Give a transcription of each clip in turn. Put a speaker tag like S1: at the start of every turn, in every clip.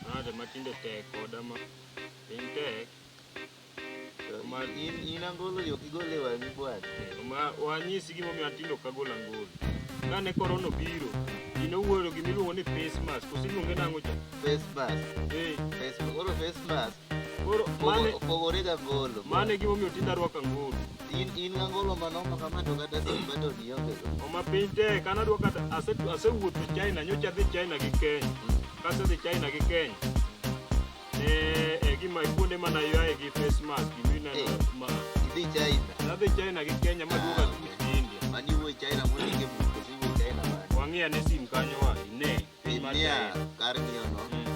S1: Nade ma tinde tek koda ma piny tek. To ma in
S2: in angolo yo kigole wang'i bwana. Ma wanyisi
S1: gima omiyo an tinde ok agol angolo. Kane korona obiro, ji nowuoro gima iluongo ni face mask. Kose iluonge nang'o cha? Face mask.
S2: Eh, Face koro face mask. Koro mane
S1: Opogo- Opogore ga ngolo.
S2: mano e gimomiyo tinda
S1: rwako angolo. In in ga ngolo
S2: manoma kama to kata sim baton ionge go. Oma piny tek an adwa
S1: kata ase asewuotho China nyocha adhi China gi Kenya. Kasedhi China gi Kenya. Eh e gima kuonde mana yaye gi face mask gima ineno Eh. ma. Idhi China.
S2: Nadhi China gi
S1: Kenya maduoga Ah, tuti India. Mani wuoyi China mondo
S2: inge buko si wuoyi China mani. Wang'e ane sim kanyo
S1: wa ine. Piny mar Inia China.
S2: kar ng'iyo no. Mm.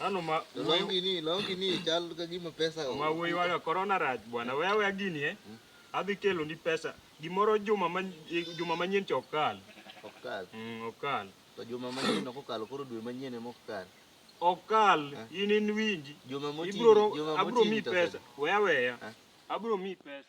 S2: Ano ma
S1: longi ni longi ni
S2: chal ka gima pesa o. Ma wuoyi wala corona
S1: raj bwana wewe awe gini eh. Hmm? Adhi kelo ni pesa gimoro juma ma juma manyien to okal. Okal. Mm, okal. To juma
S2: manyien ok okal koro dwe manyien ema okal. Okal
S1: eh. in in winji. Juma moti. Ibro
S2: abro mi
S1: pesa. Wewe weya. Eh. Abro mi pesa.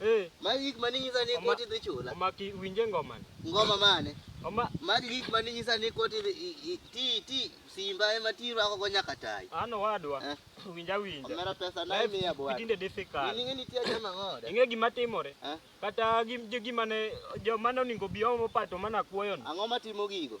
S2: Eh, Magi gik mane inyisa ni Oma- koti dhi chula. omaki winje ngoma
S1: ni. Ngoma mane?
S2: Oma Magi gik
S1: mane inyisa ni
S2: koti dhi i- i- ti ti simba ema ti rwako go nyaka tai. an owadwa Eh.
S1: winja winja. Omera pesa na
S2: Life imiya bwana. tinde difficult. Ini ngeni
S1: tiya jama
S2: ngoda. Ing'e gima timore? Eh?
S1: Kata gim- jo- gima ne joma ne oningo bi omo pato mana kuoyo ni. Ang'o matimo gigo?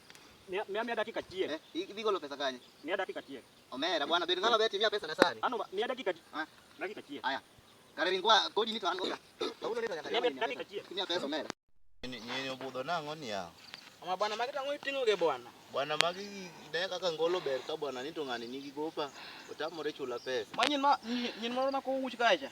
S1: Mia mia mia dakika chiek. Eh, iki bigolo pesa kanye?
S2: Mia dakika chiek.
S1: Omera bwana bed ngalo
S2: beti mia pesa na sari. Ano mia dakika chiek.
S1: Ah, dakika chiek. Aya. Kare ringwa
S2: kodi ni to an goga. Kaulo leta nyaka.
S1: Mia dakika
S2: chiek. Mia pesa omera. Ni ni obudo nango ni yao. Ama bwana magi tango
S1: itingo ge bwana. Bwana magi
S2: ne kaka ngolo ber ka bwana ni to ngani nigi gopa. Otamore chula pesa. Manyin ma nyin moro
S1: ma ko wuch kacha.